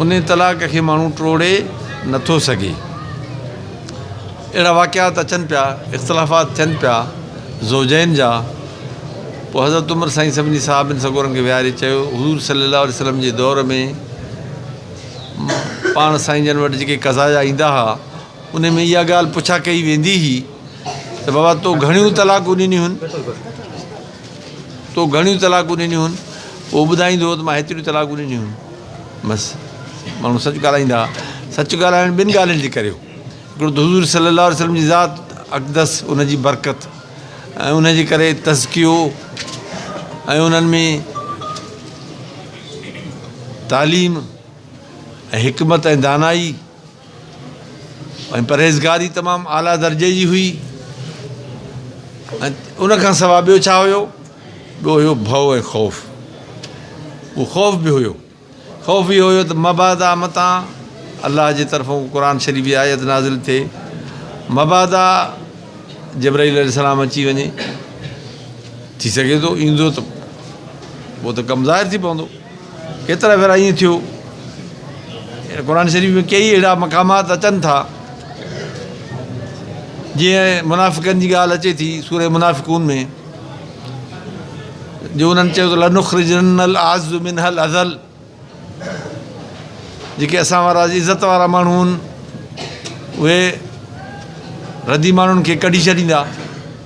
ان طلاق کي ماڻهو ٽوڙي نه ٿو سگهي. اهڙا واقعات اچن پيا، اختلافات ٿين پيا زوجين جا. پوء حضرت عمر سائين سڀني صحابين سڳورن کي ويهاري چيو، حضور صلي الله عليه وسلم جي دور ۾ پاڻ سائين جن وٽ جيڪي قضايا ايندا ها، انهي ۾ اها ڳالهه پڇا ڪئي ويندي هئي ته بابا تو گهڻيون طلاقون ڏنيون هن؟ تو گهڻيون طلاقون ڏنيون هن پوء ٻڌائيندو ته مان هيتريون طلاقون ڏنيون هن بس ماڻهو سچ ڳالهائيندا سچ ڳالهائڻ ٻن ڳالهين جي ڪري هو هڪڙو ته حضور صلي الله عليه وسلم جي ذات اقدس ان جي برڪت ۽ ان جي ڪري تزڪيو ۽ انهن ۾ تعليم ۽ حڪمت ۽ دانائي ۽ پرهيزگاري تمام اعليٰ درجي جي هئي ۽ ان کان سواء ٻيو ڇا هيو؟ ٻيو هيو ڀؤ ۽ خوف. اهو خوف به هيو. خوف اهو هيو ته مبادا متان الله جي طرفون قرآن شريف جي آيت نازل ٿئي، مبادا جبرائيل عليه السلام اچي وڃي، ٿي سگهي ٿو ايندو ته پوء ته ڪم ظاهر ٿي پوندو. ڪيترا ڀيرا ائين ٿيو. قرآن شريف ۾ ڪيئي اهڙا مقامات اچن ٿا جيئن منافقن جي ڳالهه اچي ٿي سورة منافقون ۾ جو انهن چيو ته لنخرجن الاعز منها الاذل جيڪي اسان وارا عزت وارا ماڻهو آهن اهي ردي ماڻهن کي ڪڍي ڇڏيندا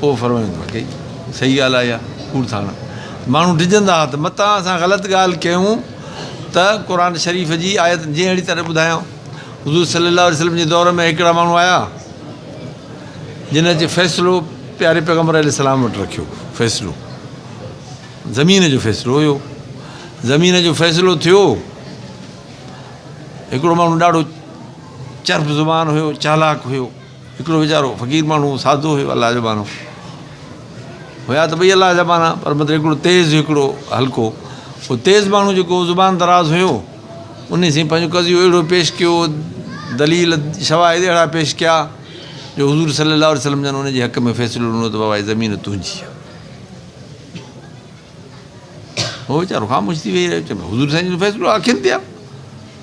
پوء فرمائيندو آهي ڪي صحيح ڳالهه آهي يا ڪوڙ ٿا هڻن ماڻهو ڊڄندا آهن ته متان اسان غلط ڳالهه ڪيون ته قرآن شريف جي آيت جيئن اهڙي طرح ٻڌايان حضور صلي الله عليه وسلم جي دور ۾ هڪڙا ماڻهو آيا جن اچي فيصلو پياري پيغمبر عليه السلام وٽ رکيو فيصلو زمين جو فيصلو هيو زمين جو فيصلو ٿيو هڪڙو ماڻهو ڏاڍو چرب زبان هيو چالاڪ هيو هڪڙو ويچارو فقير ماڻهو سادو هيو الله جا ماڻهو هيا ته ٻئي الله جا ماڻهو پر مطلب هڪڙو تيز هڪڙو هلڪو هو تيز ماڻهو جيڪو زبان دراز هيو انهي سين پنهنجو قضيو اهڙو پيش ڪيو دليل شواهد اهڙا پيش ڪيا جو حضور صلي الله عليه وسلم جن ان جي حق ۾ فيصلو ڏنو ته بابا هي زمين تنهنجي آهي هو ويچارو خاموش ٿي ويهي رهيو چئي حضور سائين جو فيصلو اکين تي آهي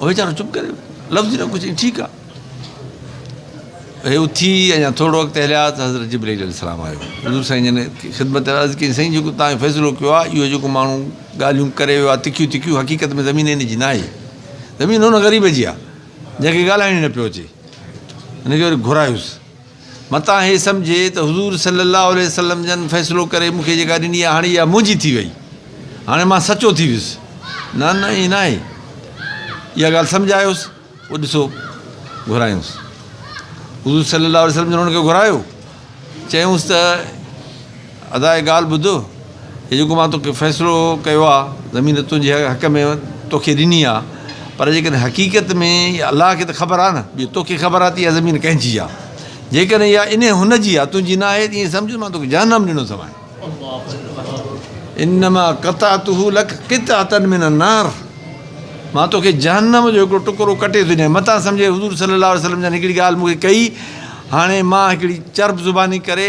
هو ويچارو چپ ڪري ويو لفظ ئي نه ڪجهه چيائين ٺيڪ آهي هي اٿي اڃا ٿورڙو اڳتي هليا ته حضرت جبرئيل عليه السلام آيو حضور سائين جن خدمت ۾ عرض ڪيائين سائين جيڪو توهان فيصلو ڪيو آهي اهو جيڪو ماڻهو ڳالهيون ڪري ويو آهي تکيون تکيون حقيقت ۾ زمين هن جي نه آهي زمين هن غريب جي آهي جنهن کي ڳالهائڻ ئي نه پيو اچي هن کي وري گهرايوس متان هي سمجهي ته حضور صلي الله عليه وسلم جن فيصلو ڪري مون کي جيڪا ڏني آهي هاڻي اها منهنجي ٿي وئي هاڻي مان سچو ٿي ويس نه نه ائين ناهي اها ڳالهه سمجهايوس پوء ڏسو گهرايوس حضور صلي الله عليه وسلم جن هن کي گهرايو چيونس ته ادا هڪ ڳالهه ٻڌ، هي جيڪو مان توکي فيصلو ڪيو آ، زمين تنهنجي حق ۾ توکي ڏني آ، پر جيڪڏهن حقيقت ۾ اها الله کي ته خبر آ نه، ٻيو توکي خبر آ ته اها زمين ڪنهن جي آ، جيڪڏهن اها انهي هن جي آ، تنهنجي نه آهي ته ائين سمجهه مان توکي جهنم ڏنو اٿمانء. انما قطعته لك قطعة من النار مان توکي جهنم جو هڪڙو ٽڪرو ڪٽي ٿو ڏيان، متان سمجهه حضور صلي الله عليه وسلم جن هڪڙي ڳالهه مون کي ڪئي، هاڻي مان هڪڙي چرب زباني ڪري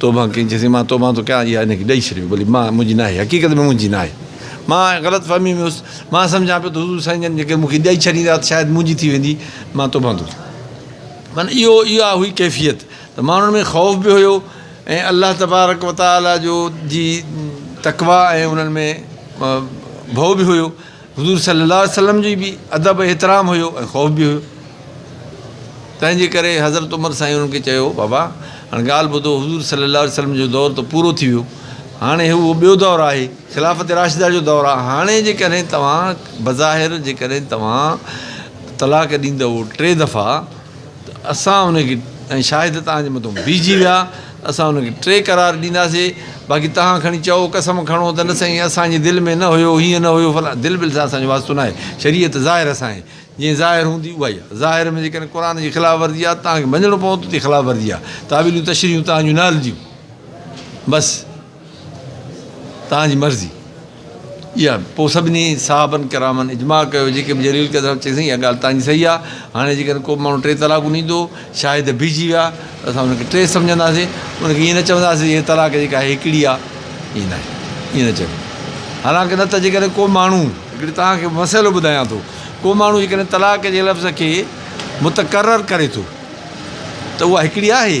توبه ڪئي چيسين، مان توبه ٿو ڪيان، اها هن کي ڏئي ڇڏيو، ڀلي مان منهنجي ناهي، حقيقت ۾ منهنجي ناهي. مان غلط فهمي ۾ هيس، مان سمجهان پيو ته حضور سائين جن جيڪڏهن مون کي ڏئي ڇڏيندا ته شايد منهنجي ٿي ويندي، مان توبه ٿو ڪيان. معنيٰ اهو اها هئي ڪيفيت ته ماڻهن ۾ خوف به هيو ۽ الله تبارڪ و تعاليٰ جو جي تقويٰ ۽ انهن ۾ ڀؤ به هيو حضور صلي الله عليه وسلم جي به ادب ۽ احترام هيو ۽ خوف به هيو. تنهن جي ڪري حضرت عمر سائين انهن کي چيو، بابا هاڻ ڳالهه ٻڌو حضور صلي الله عليه وسلم جو دور ته پورو ٿي ويو. هاڻي هي اهو ٻيو دور آهي، خلافت راشده جو دور آهي. هاڻي جيڪڏهن توهان بظاهر جيڪڏهن توهان طلاق ڏيندؤ ٽي دفعا، ته اسان ان کي ۽ شاهد توهان جي مٿو بيهجي ويا اسان ان کي ٽي قرار ڏينداسي باقي توهان کڻي چئو قسم کڻو ته نه سائين اسان جي دل ۾ نه هيو هيئن نه هيو فلان دل بل سان اسان جو واسطو ناهي شريعت ظاهر اسان جي جيئن ظاهر هوندي اها ئي آهي ظاهر ۾ جيڪڏهن قرآن جي خلاف ورزي آهي ته توهان کي مڃڻو پوندو ته خلاف ورزي آهي تاويلون تشريحون توهان جون نه هلنديون بس توهان جي مرضي اها آهي. پوء سڀني صحابن ڪرامن اجماع ڪيو، جيڪي به جرير ڪيو ته چيو سائين اها ڳالهه توهان جي صحيح آهي، هاڻي جيڪڏهن ڪو به ماڻهو ٽي طلاقون ڏيندو، شاهد بيهجي ويا ته اسان ان کي ٽي سمجهنداسين، ان کي ائين نه چونداسين هيء طلاق جيڪا آهي هڪڙي آهي، ائين ناهي، ائين نه چئبو. حالانڪه نه ته جيڪڏهن ڪو ماڻهو، هڪڙي توهان کي مسئلو ٻڌايان ٿو، ڪو ماڻهو جيڪڏهن طلاق جي لفظ کي متڪرر ڪري ٿو ته اها هڪڙي آهي،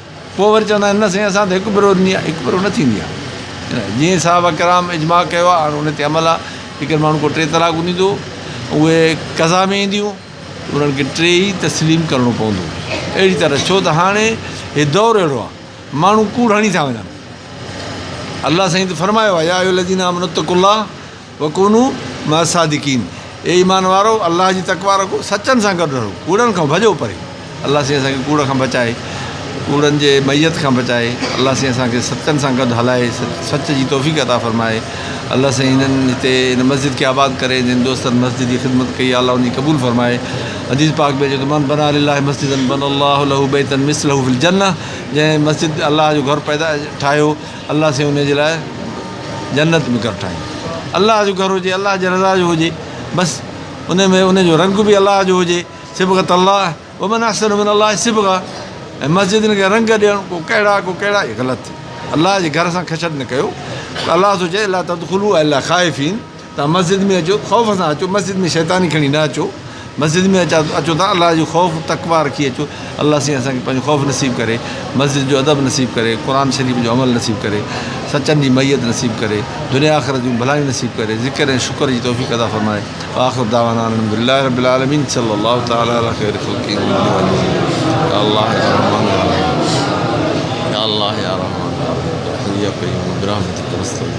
پوء وري چوندا آهن نه سائين اسان ته هڪ ڀرو ڏني آهي، هڪ ڀرو نه ٿيندي آهي جيئن صحابه ڪرام اجماع ڪيو آهي هاڻ ان تي عمل آهي جيڪڏهن ماڻهو ڪو ٽي طلاقون ڏيندو اهي قضا ۾ اينديون انهن کي ٽي ئي تسليم ڪرڻو پوندو اهڙي طرح ڇو ته هاڻي هي دور اهڙو آهي ماڻهو ڪوڙ هڻي ٿا وڃن الله سائين ته فرمايو آهي يا ايها الذين آمنوا اتقوا الله وڪونو مع الصادقين اي ايمان وارؤ! الله جي تقويٰ رکو، سچن سان گڏ رهو، ڪوڙن کان ڀڄو پري. الله سائين اسان کي ڪوڙ کان بچائي، ڪوڙن جي معيت کان بچائي، الله سائين اسان کي سچن سان گڏ هلائي، سچ جي توفيق عطا فرمائي. الله سائين هنن هتي هن مسجد کي آباد ڪري، جن دوستن مسجد جي خدمت ڪئي آ، الله ان جي قبول فرمائي. حديث پاڪ ۾ اچي ٿو، من بنٰي لله مسجدا بنٰي الله له بيتا مثله في الجنة جنهن مسجد الله جو گهر پيدا ٺاهيو، الله سين انهي جي لاء جنت به ڪر ٺاهين الله جو گهر هجي الله جي رضا جو هجي بس انهي ۾ انهي جو رنگ به الله جو هجي صبغت الله ومن احسن من الله صبغه ۽ مسجدن کي رنگ ڏيڻ ڪو ڪهڙا ڪو ڪهڙا هي غلط الله جي گهر سان کچ نه ڪيو الله ٿو چئي لا تدخلو الا خائفين تان مسجد ۾ اچو خوف سان اچو مسجد ۾ شيطاني کڻي نه اچو مسجد ۾ اچا اچو تان الله جو خوف تقوا رکي اچو الله سين اسان کي پنهنجو خوف نصيب ڪري مسجد جو ادب نصيب ڪري قرآن شريف جو عمل نصيب ڪري سچن جي ميت نصيب ڪري دنيا آخرت جون ڀلايون نصيب ڪري ذڪر ۽ شڪر جي توفيق ادا فرمائي آخر دعوانا الحمد لله رب العالمين صلي الله تعالي على خير خلقه يا الله يا رحمان يا رحيم يا الله يا رحمان يا رحيم يا قيوم برحمتك نستغيث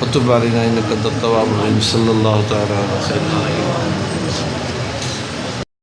فتح باري نه انڪ تتواب النبي صلي الله تعالٰي عليه وسلم.